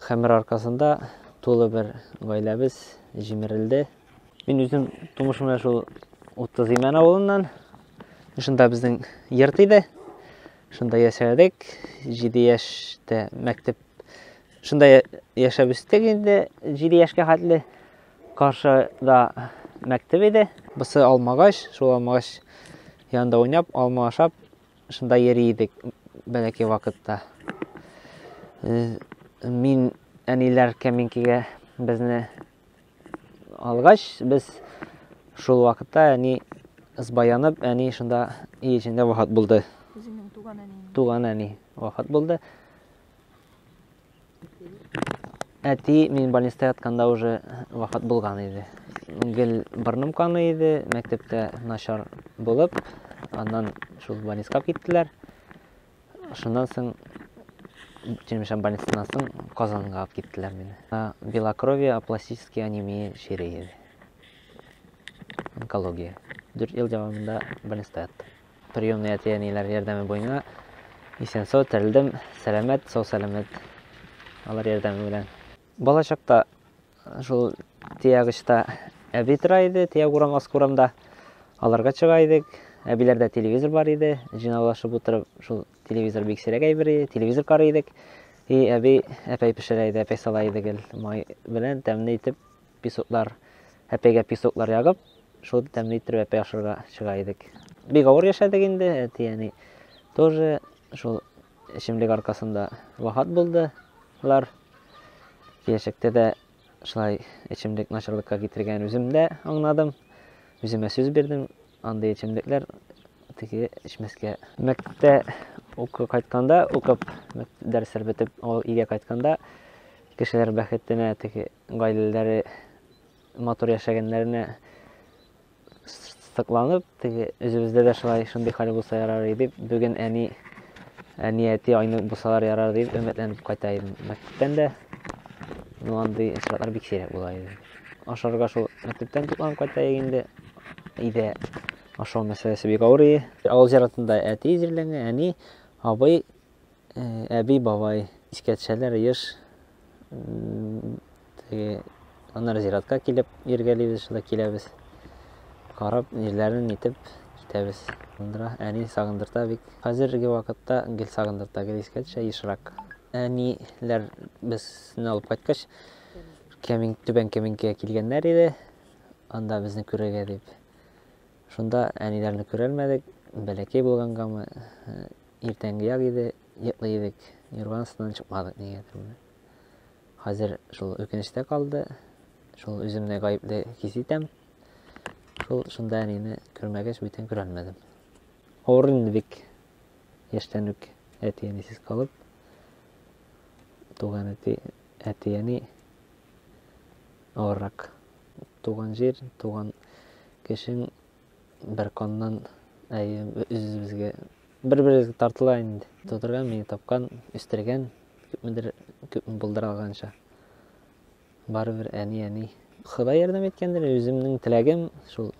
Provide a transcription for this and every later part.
Хәмер аркасында тулы бер гаиләбез җимерелде. Мин үзем тумыш менә шул 30 Имән авылыннан. Шунда безнең йорт иде. Шунда яшәдек. 7 яшьтә мәктәп шунда яшәп үстек инде 7 яшькә хәтле. Каршыда мәктәп иде. Бусы алмагач, шул алмагач янында уйнап, алма ашап шунда йөри идек бәләкәй вакытта. Мин әниләр кәминкегә безне алгач, без шул вакытта әни сбаянып, әни шунда ие эчендә вафат булды. Үзеңнең туган әниң. Туган әни вафат булды. Әти мин больниста ятканда уже вафат булган иде. Гел борным каны иде, мәктәптә начар булып, аннан шул больниска киттеләр. Шуннан соң Черемшан больницасыннан соң Казанга алып киттеләр мине. Белокровие, апластический анемия чире иде. Онкология. Дүрт ел дәвамында больниста яттым. Приемный әти-әниләр ярдәме буена исән-сау терелдем, сәламәт, сау-сәламәт алар ярдәме белән. Балачакта шул тиягычта әби тора иде, тиәг урам, аскы урамда. Аларга чыга идек. Әбиләрдә телевизор бар иде. Җыйнаулашып утырып, шул телевизор бик сирәк әйбер иде. Телевизор карый идек. И әби әпәй пешерә иде, әпәй сала иде гел май белән тәмле итеп песоклар, әпәйгә песоклар ягып, шул итеп тәмле иттереп әпәй ашарга чыга идек. Бик авыр яшәдек инде, әти-әни тоже шул эчемлек аркасында вафат булдылар. Киләчәктә дә шулай эчемлек начарлыкка китергәнен үзем дә аңладым. Үземә сүз бирдем, андый эчемлекләр теге эчмәскә. Мәктәптә укып кайтканда, укып дәресләр бетеп, ул өйгә кайтканда кешеләр бәхетенә теге Гаиләләре матур яшәгәннәренә сокланып, теге үзебездә дә шулай шундый хәл булса ярар иде дип, бүген әни әни әти айнык булсалар ярар дип өметләнеп кайта идем. Мәктәптән дә ну андый очраклар бик сирәк була иде. Ашарга шул мәктәптән тукланып кайта инде. Өйдә ашау мәсьәләсе бик авыр иде. Авыл зиратында әти җирләнгән, әни, абый Әби, бабай, искә төшәләр еш. Аннары зиратка килеп иргәлибез, шулай киләбез. Карап, җирләрен итеп китәбез. Андыра әни сагындырта бик. Хәзерге вакытта гел сагындырта, гел искә төшә ешрак. Әниләр безне алып кайткач, Кәмин, Түбән Кәминкәгә килгәннәр иде. Анда безне күрергә дип. Шунда әниләрне күрәлмәдек, бәләкәй булгангамы, иртәнге як иде, йоклый идек, юрган астыннан чыкмадык нигәдер менә. Хәзер шул үкенештә калды, шул үземне гаепле хис итәм. Шул шунда әнине күрмәгәч бүтән күрәлмәдем. Авыр инде бик. Яшьтән үк әти әнисез калып, туган әти, әти әни авыррак. Туган җир, туган кешең Бер каннан, әйе, үзебезгә бер-беребезгә тартыла инде. Тудырган, мине тапкан, үстергән, күпмедер күп булдыра алганча. Барыбер әни, әни. Ходай ярдәм иткәндер, үземнең теләгем шул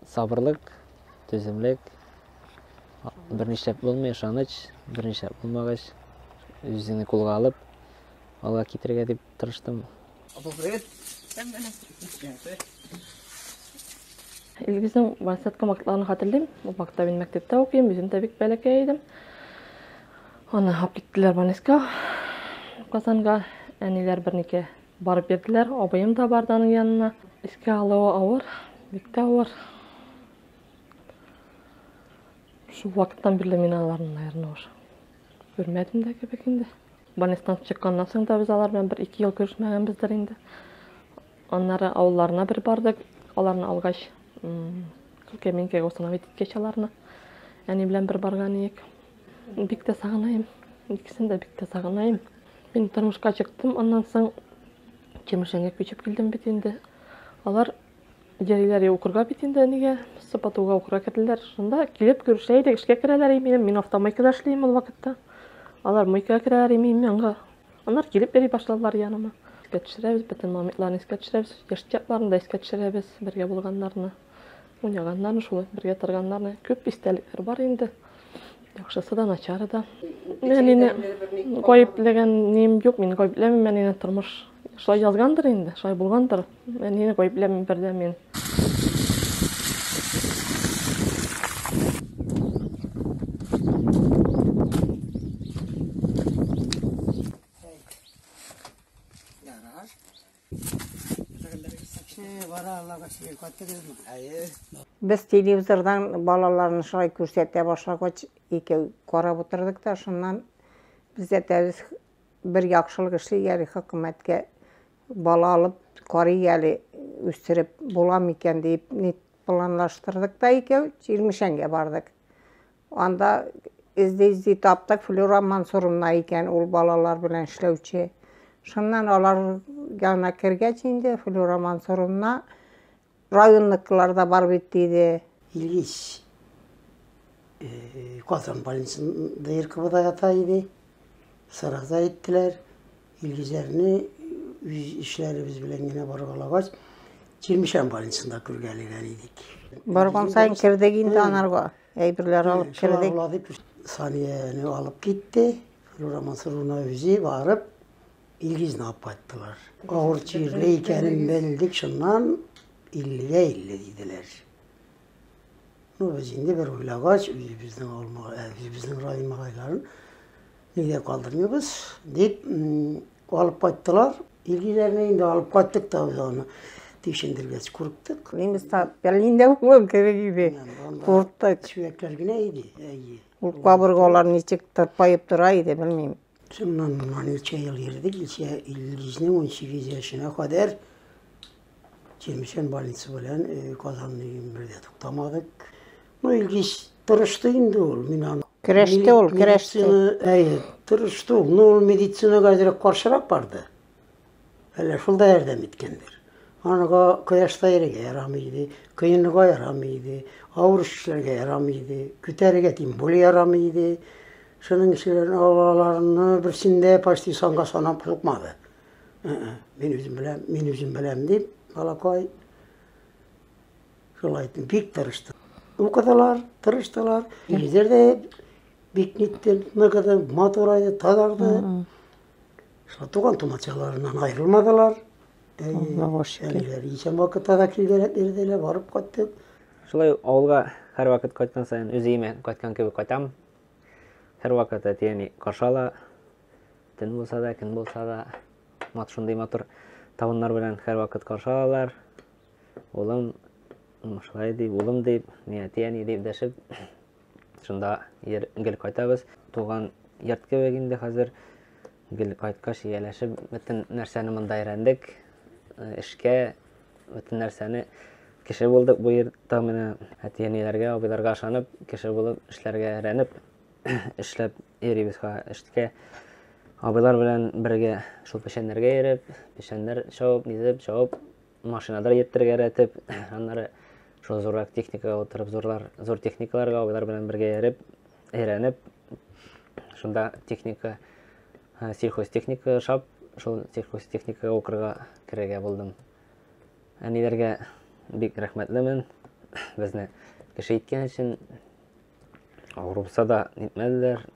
сабырлык, түземлек. Бернишләп булмый, ышаныч, бернишләп булмагач, үзеңне кулга алып, алга китергә дип тырыштым. Илгизнең вансетка вакытларын хатırlayм. Бу вакытта мин мәктәптә укыйм, үзем дә бик бәләкәй идем. Аны алып киттеләр Банеска. Казанга әниләр бернеке барып бирделәр. Абыем да барды аның янына. Искә алуы авыр, бик тә авыр. Шул вакыттан бирле мин аларны, наверное, уж күрмәдем дә кебек инде. Больницадан чыкканнан соң да без алар белән бер-ике ел күрешмәгәнбездер инде. Аннары авылларына бер бардык. Аларны алгач, Кәминкәгә установить иткәч аларны әни белән бер барган идек. Бик тә сагынайым. Икесен дә бик тә сагынайым. Мин тормышка чыктым, аннан соң Чемешәнгә күчеп килдем бит инде. Алар Гәриләр я укырга бит инде әнигә, сыпатуга укырга керделәр. Шунда килеп күрешә идек, эшкә керәләр иминем, мин автомойкада эшлим ул вакытта. Алар мойкага керәләр иминем янга. Аннар килеп йөри башладылар яныма. Искә төшерәбез, бөтен момитларны искә төшерәбез, яшь чакларны да искә төшерәбез, бергә булганнарны, уйнаганнарны, шулай бергә торганнарны. Күп истәлекләр бар инде. Яхшысы да, начары да. Әнине гаепләгән ним юк, мин гаепләмим әнине, тормыш Шулай язгандыр инде, шулай булгандыр. Әнине гаепләмим бердә мин. Без телевизордан балаларны шулай күрсәтә башлагач, икәү карап утырдык та, шуннан без әтәбез Бер яхшылык эшли әле хөкүмәткә, бала алып карый әле, үстереп була микән диеп ник планлаштырдык та икәү Чирмешәнгә бардык. Анда эзди-эзди таптык, Флюра Мансуровна икән, ул балалар белән эшләүче. Шуннан алар янына кергәч инде, Флюра Мансуровна Районныкылар да бар бит, диде. Ильич Казан больницасында Иркыбыда ята иде. Сорак та әйттеләр. Илгизәрне үз эшләребез белән генә баргалагач, Чирмешән больницасында күргәләгән идек. Барган саен кердек инде анарга. Әйберләр алып кердек. Санияне алып китте. Флюра Мансуровна үзе барып, Илгизне алып кайттылар. Авыр чирле икәнен белдек, шуннан 50-гә 50 диделәр. Ну, без инде бер уйлагач, үзебезнең авылмага, ә, үзебезнең район малайларын нигә калдырмыйбыз, дип алып кайттылар. Илгизләрне инде алып кайттык та без аны тикшендергәч күрдек. Немецлар Берлиндә булган кебек иде. Курыктык. Сөякләр генә иде, әйе. Ул кабыргалар ничек тырпаеп тора иде, белмим. Шуннан моннан ничә ел йөрдек, ничә Илгизнең 18 яшенә кадәр Чирмешән больницы белән э, Казан өем бергә туктамадык. Ну, Илгиз тырышты инде ул, мин аны Көрәште ул, көрәште. Медицина, әй, тырышты ул. Ну, ул медицинаға әзрәк каршырак барды. Әллә шул да ярдәм иткәндер. Анага кояшта йөрергә ярамый иде, коенырга ярамый иде, авыр эш эшләргә ярамый иде, күтәрергә тем более ярамый иде. Шуның өчен алаларны берсен дә почти санга санап сукмады. Ә-ә, мин үзем беләм, мин үзем беләм дип, балакай шулай итеп бик тырышты. Укыдылар, тырыштылар. Җирләр дә бик нитте, ныгыды, матурайды, тазарды. Шулай туган-тумачаларыннан аерылмадылар. Аллага шөкер. Әлегә исән вакытта да килделәр, ирделәр, барып кайттык. Шулай авылга һәрвакыт кайткан саен үз өемә кайткан кебек кайтам. Һәрвакыт әтиәни каршы ала. Төн булса да, көн булса да, мат шундый матур табыннар белән һәрвакыт каршы алалар. Улым, шулай дип, улым дип, мин әтиәни дип дәшеп Шунда ер гел кайтабыз. Туган йорт кебек инде хәзер. Гел кайткач ияләшеп бөтен нәрсәне монда өйрәндек. Э, эшкә бөтен нәрсәне кеше булдык бу йортта менә әти-әниләргә, абыйларга ышанып, кеше булып эшләргә өйрәнеп эшләп йөрибез эшкә. Абыйлар белән бергә шул печәннәргә йөреп, печәннәр чабып, низеп, чабып машинада йөртергә рәтеп аннары шул зуррак техникага утырып зурлар зур техникаларга алар белән бергә йөреп өйрәнеп шунда техника сельхозтехника шап шул сельхозтехникага укырга керергә булдым әниләргә бик рәхмәтлемен безне кеше иткән өчен рухса да нитмәделәр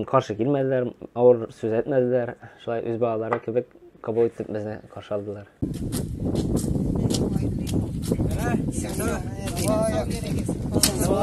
Каршы килмәделәр, авыр сүз әйтмәделәр. Шулай үз балалары кебек кабул итеп безне каршы алдылар. Сау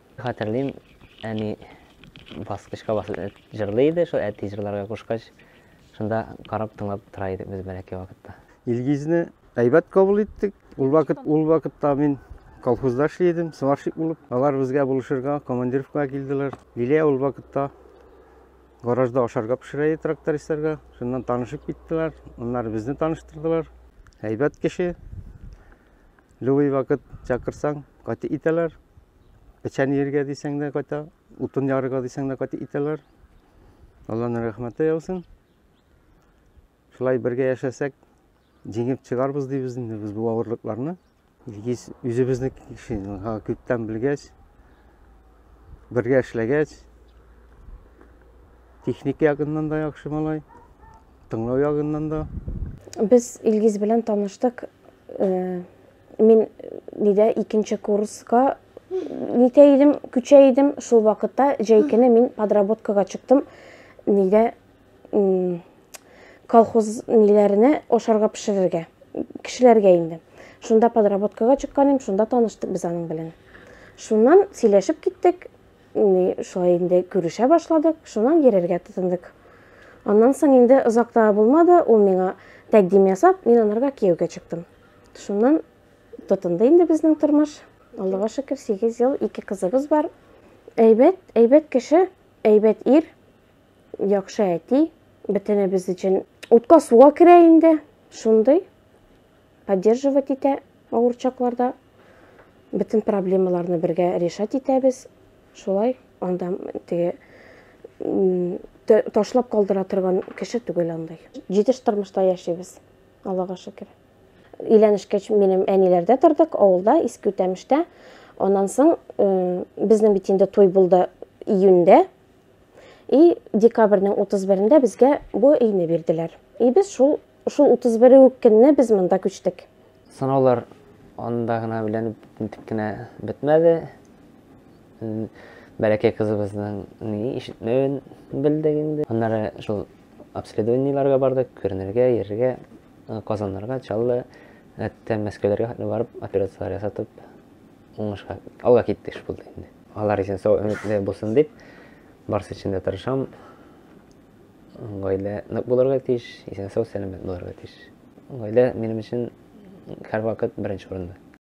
Хәтерлим, әни баскычка басып э, җырлый иде, шул әти җырларга кушкач, шунда карап тыңлап тора идек без бәләкәй вакытта. Илгизне әйбәт кабул иттек. Ул вакыт ул вакытта мин колхозда эшли идем, сварщик булып. Алар безгә булышырга, командировкага килделәр. Лилия ул вакытта гаражда ашарга пешерә иде трактористларга. Шуннан танышып киттеләр. Аннары безне таныштырдылар. Әйбәт кеше. Любой вакыт чакырсаң, кайта итәләр. Печән иергә дисәң дә кайта, утын ярырга дисәң дә кайта итәләр. Алланың рәхмәте яусын. Шулай бергә яшәсәк, җиңеп чыгарбыз дибез инде без бу авырлыкларны. Гиз үзебезнең кеше, күптән белгәч, бергә эшләгәч, техника ягыннан да яхшы малай. тыңлау ягыннан да. Без Илгиз белән таныштык. Э, мин нидә икенче курска нитә идем, күчә идем. Шул вакытта җәй көне мин подработкага чыктым. Нидә колхоз ниләренә ашарга пешерергә, кешеләргә инде. Шунда подработкага чыккан идем, шунда таныштык без аның белән. Шуннан сөйләшеп киттек. Менә шулай инде күрешә башладык, шуннан йөрергә тотындык. Аннан соң инде озак та булмады, ул миңа тәкъдим ясап, мин анарга кияүгә чыктым. Шуннан тотынды инде безнең тормыш. Аллага шөкер, 8 ел, ике кызыбыз бар. Әйбәт, әйбәт кеше, әйбәт ир, яхшы әти, бөтенебез өчен утка суга керә инде, шундый. поддерживать итә авыр чакларда. Бөтен проблемаларны бергә решать итәбез. Шулай анда теге ташлап калдыра торган кеше түгел андай. Җитеш тормышта яшибез, Аллага шөкер. Өйләнешкәч минем әниләрдә тордык, авылда, Иске Үтәмештә. Аннан соң э, безнең бит инде туй булды июньдә. И декабрьнең 31-ендә безгә бу өйне бирделәр. И без шул Шул 31 үк көнне без монда күчтек. Сынаулар анда гына белән нитек кенә бетмәде. Бәләкәй кызыбызның ни ишетмәвен белдек инде. Аннары шул обследованиеләргә бардык, күренергә, йөрергә, э, Казаннарга, Чаллы, хәтта Мәскәүләргә хәтле барып операцияләр ясатып, уңышка алга киттек шул инде. Алар өчен сау өметле булсын дип, барсы өчен дә тырышам. Гаилә нык булырга тиеш, исән-сау, сәламәт булырга тиеш. Гаилә минем өчен һәрвакыт беренче урында.